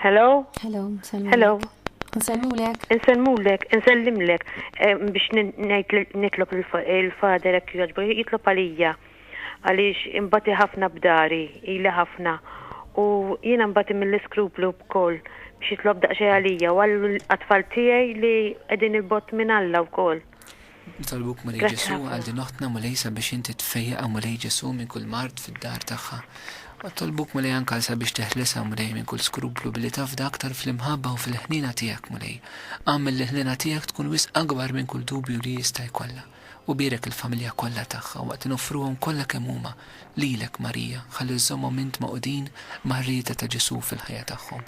Hello? Hello, nselmulek. Hello. Nselmulek. Nselmulek, nsellimlek eh, biex nitlob il-fader hekk jogħġbu, jitlob għalija għaliex imbati ħafna b'dari, ili ħafna. U jiena mbati mill-iskruplu b'koll biex jitlob daqsxejn għalija u għall-atfal tiegħi li qegħdin il-bott minn Alla wkoll. Nitolbuk Mulej Ġesù għal din oħtna Mulej sabiex inti tfejjaqha Mulej Ġesù minn kull mard fid-dar tagħha. U nitolbuk Mulej anke għal sabiex teħlisha Mulej minn kull skruplu billi tafda aktar fl-imħabba u fil-ħniena tiegħek Mulej. Agħmel l-ħniena tiegħek tkun wisq akbar minn kull dubju li hi jista' jkollha. U bierek il-familja kollha tagħha waqt li noffruhom kollha kemm huma lilek Marija ħalli żżommhom int magħqudin mar-rieda ta' Ġesù fil-ħajja tagħhom.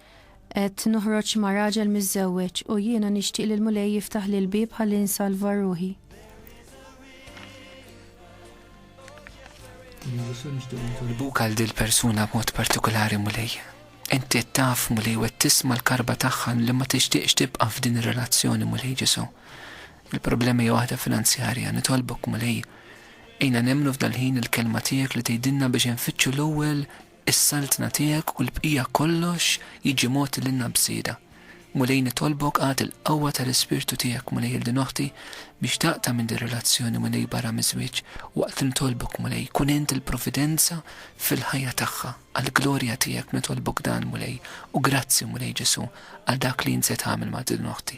Qed noħroġ ma' raġel miżżewweġ u jiena nixtieq li l-Mulej jiftaħli l-bieb ħalli nsalva ruħi. Nitolbuk għal dil persuna b'mod partikolari mulej. Inti taf mulej u tisma l-karba tagħha li ma tixtieqx tibqa' f'din ir-relazzjoni mulej Ġesu. Il-problema hija waħda finanzjarja, nitolbok mulej. Ejna nemmnu f'dal-ħin il-kelma tiegħek li tgħidilna biex infittxu l-ewwel Is-saltna tiegħek u l-bqija kollox jiġi mogħti lilna b'żieda. Mulej nitolbok agħti l-qawwa tal-Ispirtu tiegħek Mulej lil din oħti biex taqta' minn din relazzjoni Mulej barra miż-żwieġ waqt li nitolbok Mulej kun int il-providenza fil-ħajja tagħha għal glorja tiegħek nitolbok dan Mulej u grazzi Mulej Ġesu' għal dak li int se tagħmel ma' din oħti.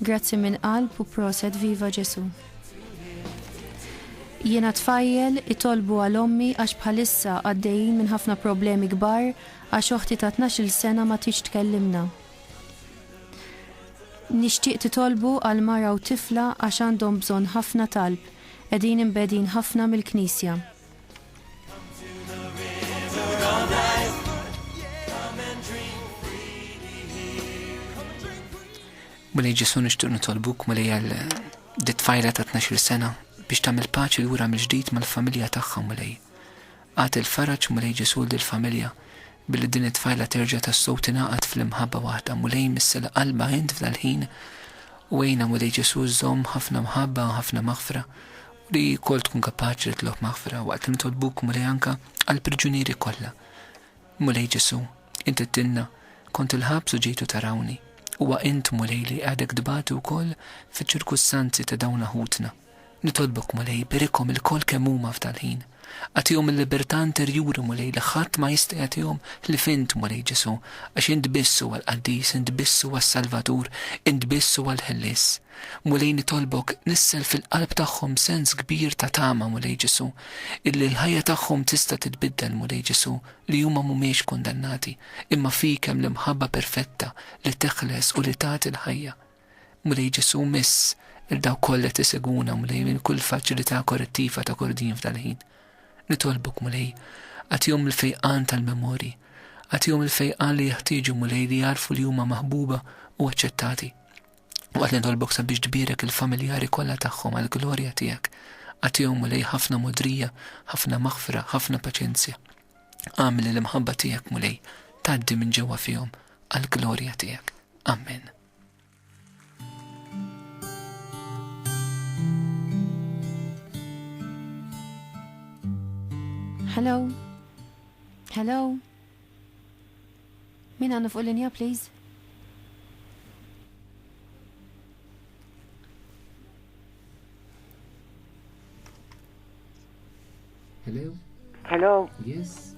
Grazzi minn qalb u proset viva Ġesu. Jiena tfajjel itolbu għal ommi għax bħalissa għaddejjin minn ħafna problemi kbar għax oħti ta tnax il sena ma tridx tkellimna. Nixtieq titolbu għal mara u tifla għax għandhom bżonn ħafna talb qegħdin imbegħdin ħafna mill knisja. Mulej Ġesu nixtieq nitolbuk mulej għal dit tfajla ta' 12 sena biex tagħmel paċi lura mill-ġdid mal-familja tagħha mulej. Għad il-faraġ mulej Ġesu lill-familja billi din it-tfajla terġa' tas-sow tingħaqad fl-imħabba waħda mulej missel qalba int f'dal-ħin u għejna mulej Ġesu żomm ħafna mħabba ħafna maħfra Li wkoll tkun kapaċi titlob maħfra waqt li nitolbuk, Mulej, anke għall-priġunieri kollha. Mulej Ġesù, int għidtilna, Kont il-ħabs u ġejtu tarawni. Huwa int, Mulej, li qiegħdek tbati wkoll fiċ-ċirkustanzi ta' dawn ħutna. Nitolbok, Mulej, berikhom ilkoll kemm huma f'dal-ħin. Agħtihom il-libertà interjuri, Mulej, li ħadd ma jista' jagħtihom ħlief Int, Mulej Ġesù, għax Int biss huwa l-Qaddis, Int biss huwa s-Salvatur, Int biss huwa l-Ħellies. Mulej, nitolbok, nissel fil-qalb tagħhom sens kbir ta' tama, Mulej Ġesù, illi l-ħajja tagħhom tista' titbiddel, Mulej Ġesù, li huma mhumiex kundannati, imma fik hemm l-imħabba perfetta li teħles u li tagħti l-ħajja. Mulej Ġesù, miss lil dawk kollha qed isegwuna, Mulej, minn kull faċilità korrettiva ta' kordin f'dal-ħin. Nitolbok, Mulej, agħtihom il-fejqan tal-memorji. Agħtihom il-fejqan li jeħtieġu, Mulej, li jagħrfu li huma maħbuba u aċċettati. U qed nitolbok sabiex tbierek il-familjari kollha tagħhom għall-glorja tiegħek. Agħtihom, Mulej, ħafna mogħdrija, ħafna maħfra, ħafna paċenzja. Agħmel li l-imħabba tiegħek, Mulej, tgħaddi minn ġewwa fihom għall-glorja tiegħek. Amen. Hello? Hello? Min għandu fuq linja, please? Hello? Hello? Yes?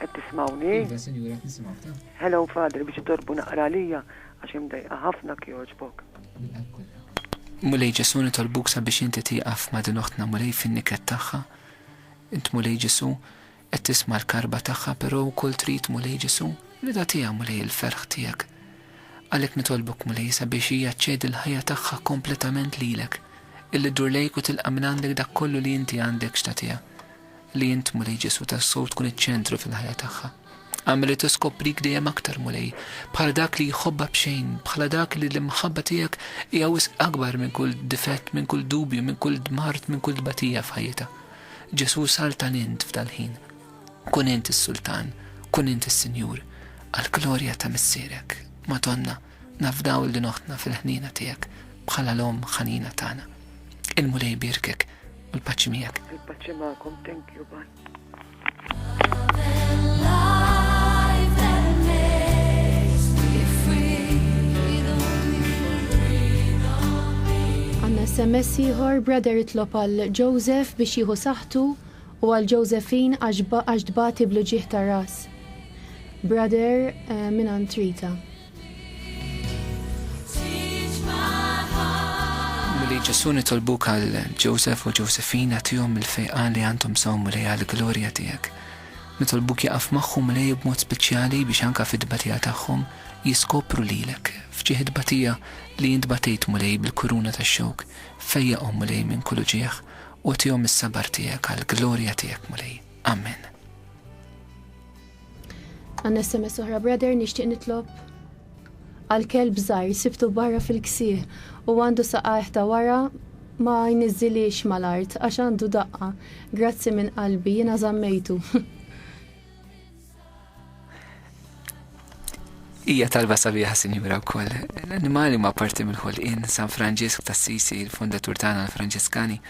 Qed tismawni? Iva, sinjura, nisimgħu ta. Hello, Father, biex torbu naqra lija għax imdejqa ħafna kjoġbok. Mulej Ġesu nitolbuk sabiex inti tieqaf ma' din oħtna mulej fin-niket tagħha. Int mulej Ġesu qed tisma' l-karba tagħha però wkoll trid mulej Ġesu rida tiegħha mulej il-ferħ tiegħek. Għalhekk nitolbok, Mulej, sabiex hija ċċedi l-ħajja tagħha kompletament lilek, illi ddur lejk u tilqa' mingħandek dak kollu li inti għandek x'tagħtiha. Li int, Mulej Ġesù, tassew tkun iċ-ċentru fil-ħajja tagħha. Agħmel li tiskoprik dejjem aktar, Mulej, bħala dak li jħobbha b'xejn, bħala dak li l-imħabba tiegħek hija wisq akbar minn kull difett, minn kull dubju, minn kull mard, minn kull tbatija f'ħajjitha. Ġesù, saltan int f'dal-ħin. Kun int is-Sultan, kun int is-Sinjur, għall-glorja ta' Missierek, Madonna, nafdaw il din oħtna fil-ħniena tiegħek bħala l-Omm ħanina tagħna. Il-Mulej jbierkek u l-paċi miegħek. Il-paċi magħkom, thank you, bye. SMS ieħor, brother itlob għal Joseph biex jieħu saħħtu U għal Josephine għax għax tbati bl-uġigħ tar-ras. Brother eh, mingħand Rita. Milli Ġesu nitolbuk għal Joseph u Josephine għatihom il-fejqa li għandhom sawm li għal glorja tiegħek. Nitolbuk jaqaf magħhom li b'mod speċjali biex anka fid-batija tagħhom jiskopru lilek f'ġieħ batija li jintbatejt mulej bil-kuruna tax-xewk fejjaqhom mulej minn kull uġieħ Għottihom is-sabar tiegħek għall-glorja tiegħek, Mulej. Amen. Għanna SMS oħra, brother, nixtieq nitlob għal kelb żgħir sibtu barra fil-ksieħ u għandu saqajh ta' wara ma jniżżiliex mal-art għax għandu daqqa. Grazzi minn qalbi, jiena żammejtu. Hija talba sabiħa sinjura wkoll. L-annimali huma parti mill-ħolqien San Franġisk ta' Sisi, il-fondatur tagħna l-Franġiskani,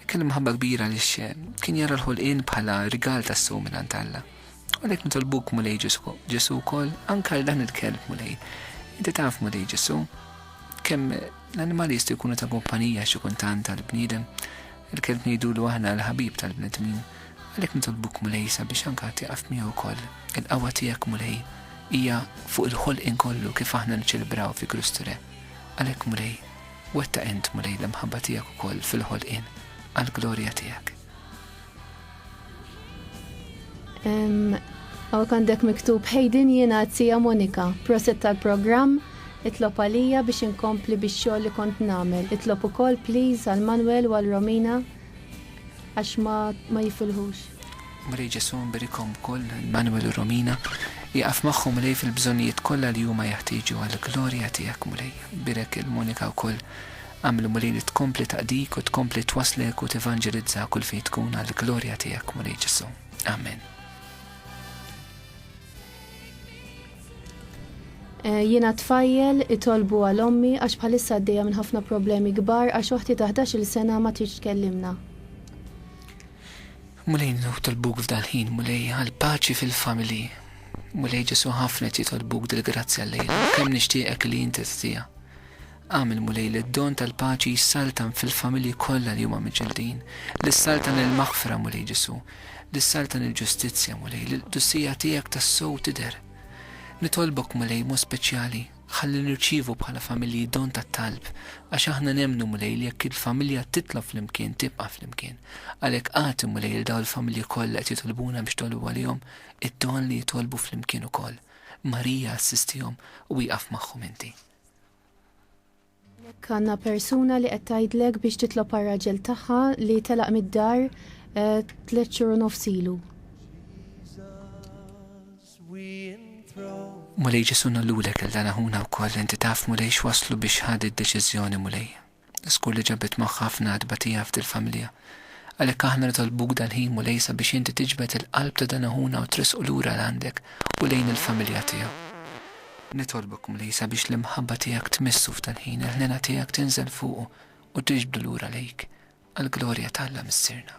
kellu mħabba kbira li kien jara l-ħolqien bħala rigal tas sum minn Alla. U lek nitolbuk mulej Ġesu wkoll anke għal dan il-kelb mulej. Inti taf mulej Ġesu kemm l-annimali jistgħu jkunu ta' kumpanija xi kultant tal-bniedem. Il-kelb ngħidulu aħna l-ħabib tal-bnedmin. Għalhekk nitolbuk, Mulej, sabiex anke għad tieqaf miegħu wkoll. Il-qawwa tiegħek, Mulej, hija fuq il-ħolqien kollu kif aħna niċċelebraw fi Kristu Re. Għalhekk, Mulej, wettaq int, Mulej, l-imħabba tiegħek ukoll fil-ħolqien għall-glorja tiegħek. Għawek għandek miktub ħejdin jiena għazzija Monika, proset tal-programm, itlob għalija biex inkompli biex xogħol li kont namel. Itlob ukoll please għal Manuel u għal Romina Għax ma, ma jifilħux. Mulej Ġesù nbirikhom ukoll, Emmanuel u Romina, ieqaf magħhom Mulej fil-bżonnijiet kollha li huma jeħtieġu għall-glorja tiegħek Mulej. Bierek 'il Monika wkoll. Agħmlu Mulej li tkompli taqdik u tkompli twasslek u tevanġelizza kull fejn tkun għall-glorja tiegħek Mulej Ġesù. Amen. Jiena t-tfajjel itolbu għal ommi għax bħalissa għaddejja minn ħafna problemi kbar għax oħti ta' ħdax-il sena ma tridx tkellimna. Mulej nitolbuk f'dal-ħin Mulej għal paċi fil-familji. Mulej Ġesu' ħafna qed jitolbuk dil-grazzja llejla u kemm nixtieqek li inti ttiha. Agħmel, Mulej, li d-don tal-paċi jissaltan fil-familji kollha li huma miġildin, li ssaltan il-maħfra, Mulej Ġesù, li ssaltan il-ġustizzja, Mulej, li l-qdusija tiegħek tassew tidher. Nitolbok, Mulej, b'mod speċjali, ħalli nirċievu bħala familji don tat-talb, għax aħna nemmnu, Mulej, li jekk il-familja titlob flimkien tibqa' flimkien. Għalhekk agħti, Mulej, lil dawn il-familji kollha qed jitolbuna biex jitolbu għalihom, id-don li jitolbu flimkien ukoll. Marija, assistihom u ieqaf magħhom inti. Jekk għandna persuna li qed tgħidlek biex titlob għar-raġel tagħha li telaq mid-dar eh, tliet xhur u nofs ilu. Mulej Ġesu nollu lek il-dan aħuna wkoll inti taf mulej x'waslu biex ħad id-deċiżjoni mulej. Żgur li ġabet magħha ħafna tbatija f'dil-familja. Għalhekk aħna nitolbuk dal-ħin, Mulej, sabiex inti tiġbed il-qalb ta' dan aħuna u tressqu lura 'l għandek u lejn il-familja tiegħu. Nitolbok, Mulej, sabiex l-imħabba tiegħek tmissu f'dal-ħin, il-ħniena tiegħek tinżel fuqu u tiġbdu lura lejk, għall-glorja t'Alla Missierna.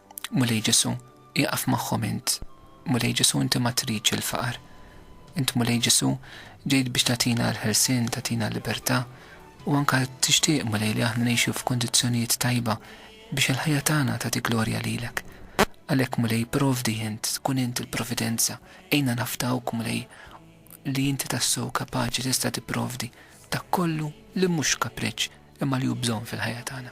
Mulej Ġesù, ieqaf magħhom int. Mulej Ġesù, inti ma tridx il-faqar. Int Mulej Ġesù, ġejt biex tagħtina l-ħelsien, tagħtina l-libertà, u anke tixtieq, Mulej, li aħna ngħixu f'kundizzjonijiet tajba biex il-ħajja tagħna tagħti glorja lilek. Għalhekk, Mulej, provdi int, kun int il-providenza, għinna nafdawk, Mulej, li inti tassew kapaċi tista' tipprovdi dak kollu li mhux kapriċċ imma li hu bżonn fil-ħajja tagħna.